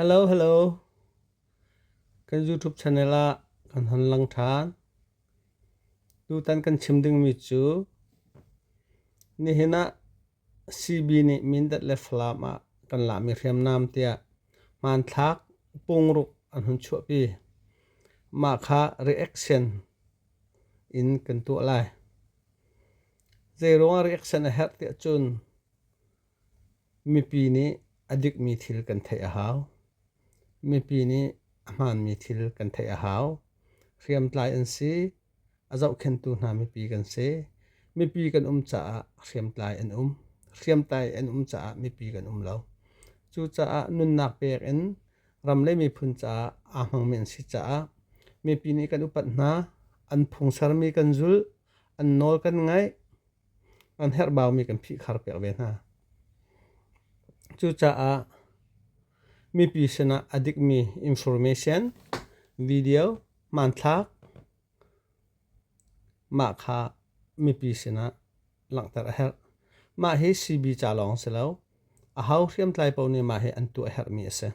Hello hello kan YouTube channel ah kan hon lang ṭhan. Tutan kan chim dingmi cu nihin ah CB nih Mindat le Falam ah kan lahmi hriamnam tiah hmanthlak pungruk an hun chuahpi. Mah kha reaction in kan tuah lai. Zeiruangah reaction a herh tiah cun Mipi nih a dikmi thil kan theih a hau. Mipi nih a hmaanmi thil kan theih a hau. Hriamtlai an si. A zohkhenhtu hna mipi kan si. Mipi kan um caah hriamtlai an um. Hriamtlai an um caah mipi kan um lo. Cucaah nunnak pek in ram le miphun caah aa hmangmi an si caah mipi nih kan upat hna. An phung sermi kan zulh. An nawl kan ngaih. an herhbaumi kan phihkhar piak ve hna. Cucaah mipi sinah a dikmi information, video, hmanthlak mah kha mipi sinah langhter a herh. Mah hi CB ca lawng si lo. Aho hriamtlai paoh nih mah hi an tuah herhmi a si.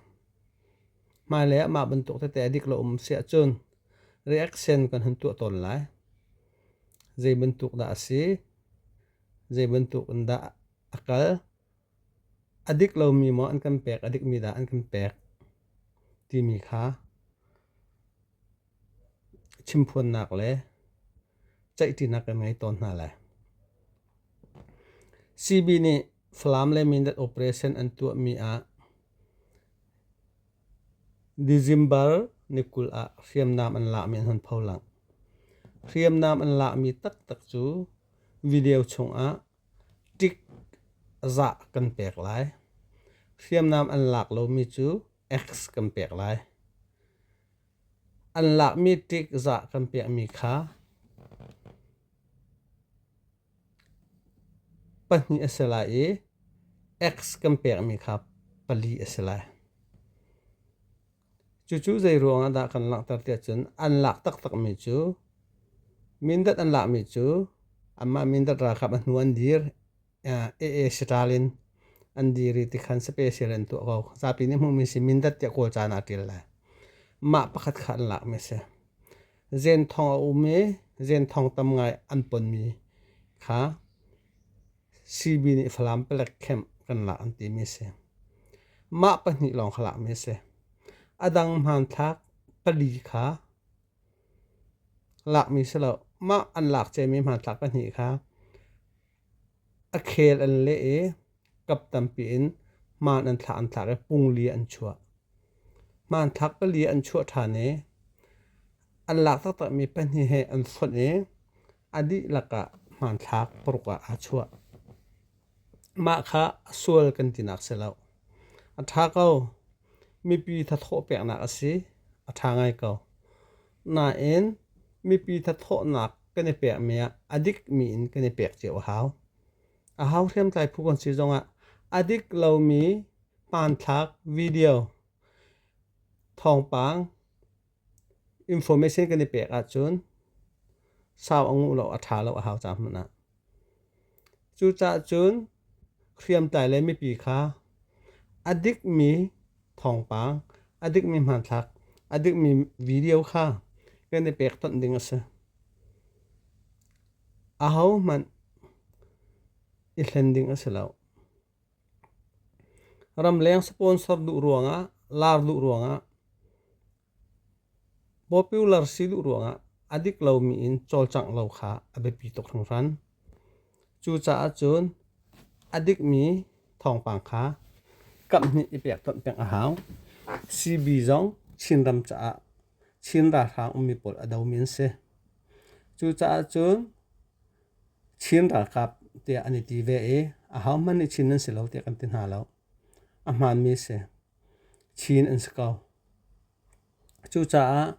Hmailei ah mah bantuk tete a dik lo um si ahcun reaction kan hun tuah tawn lai. Zei bantuk dah a si, zei bantuk in dah a kal, a dik lomi maw an kan pek, a dikmi dah an kan pek timi kha chimphuannak le ceihṭinak kan ngei tawn hna lai. CB nih Falam le Mindat operation an tuahmi ah December ni kul ah hriamnam an lahmi an hun pholangh. Hriamnam an lahmi taktak cu video chungah tik zah kan pek lai. Hriamnam an lak lomi cu X kan pek lai. An lakmi tik zah kan pekmi kha Pahnih a si lai i X kan pekmi kha pali a si lai. Cucu zeiruang ah dah kan langhter tiah cun an lak taktakmi cu Mindat an lakmi cu anmah Mindat ralkap a hnu an dir AA Sitalin an dir i tikhan sape sel in tuah ko. Zapi nih hmuhmi si Mindat tiah kawl caan ah a ṭil lai. Mah pakhat kha an lakmi a si. zen thong a um i zen thong tam ngai an ponmi kha CB nih Falam palek camp kan lak an timi a si. Mah pahnih lawng kha lakmi a si. A dang hmanthlak pali kha lakmi si lo. Mah an lak cemmi hmanthlak pahnih kha a khel an leh i Kap tampi in hmaan an thlah an thlar i pungli an chuah. Hmanthlak pali an chuah ṭhan i an lak taktakmi pahnih he an hlonh i a dihlak ah hmanthlak paruk ah aa chuah. Mah kha a sual kan tinak si lo. A ṭha ko. Mipi thathawh peknak a si. A ṭha ngai ko. Nain mipi thathawhnak kan i pekmi ah a dikmi in kan i pek cio a hau. A hau hriamtlai phu kan si zongah a dik lomi hmanthlak video thawngpang information kan i pek ahcun sau a nguh lo a ṭha lo a hau cang hmanh ah cucaah cun hriamtlai le mipi kha a dikmi thawngpang a dikmi hmanthlak a dikmi video kha kan i pek tonh ding a si ahohmanh i hlen ding a si lo. Ramleng sponsor duh ruangah, lar duh ruangah, popular si duh ruangah a dik lomi in cawlcangh lo kha a biapi tuk hringhran. Cucaah cun a dikmi thawngpang kha kamhnih i pek tonh peng a hau. CB zong Chinram caah Chin ralhrang ummi pawl a domi an si. Cucaah cun Chin ralkap tiah an i ti ve i ahohmanh nih Chin an si lo tiah kan ti hna lo. A hmaanmi si. Chin an si ko. Cucaah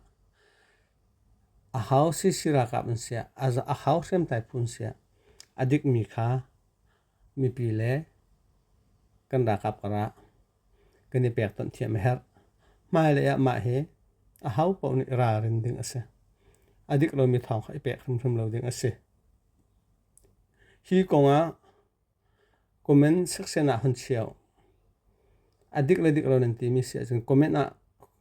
aho Sisi ralkap an si ah, aho hriamtlai phu an si ah a dikmi kha mipi le kan ralkap karah kan i pek tonh thiam a herh. Hmailei ah mah hi a ho paoh nih ralrin ding a si. A dik lomi thawng kha i pek hrimhrim lo ding a si. Hi kongah comment section ah hun cheu. A dik le dik lo nan timi si ahcun comment ah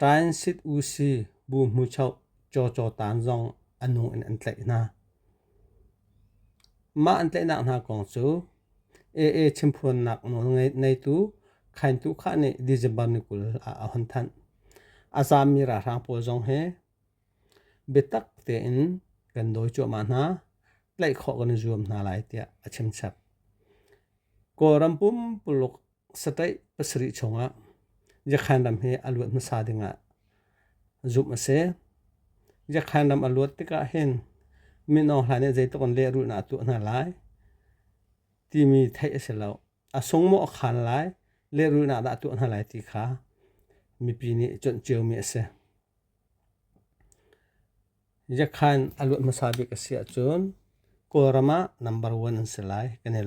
Ṭain sit u si bu hmuchoh cawcaw taan zong a nu in an tlaih hna. Mah an tlaihnak hna kong cu AA chimphuannak nawl neitu Khaintu Kha nih December ni kul ah a hon thanh. A zaammi ralhrang pawl zong he biatak tein kan dawi cuahmah hna, tlaih khawh kan i zuam hna lai tiah a chimchap. Kawlram pumpuluk Sataih pasarih chungah Yakhan ram hi a luat hmasa dingah zumh a si. Yakhan ram a luat tikah hin Min Aung Hlain nih zeitluk in lehrulhnak a tuah hna lai timi theih a si lo. A sung maw a khan lai, lehrulhnak dah a tuah hna lai ti kha mipi nih cuanh ciomi a si. Yakhan a luat hmasa bik a si ahcun Kawlram ah number one an si lai kan i lawm.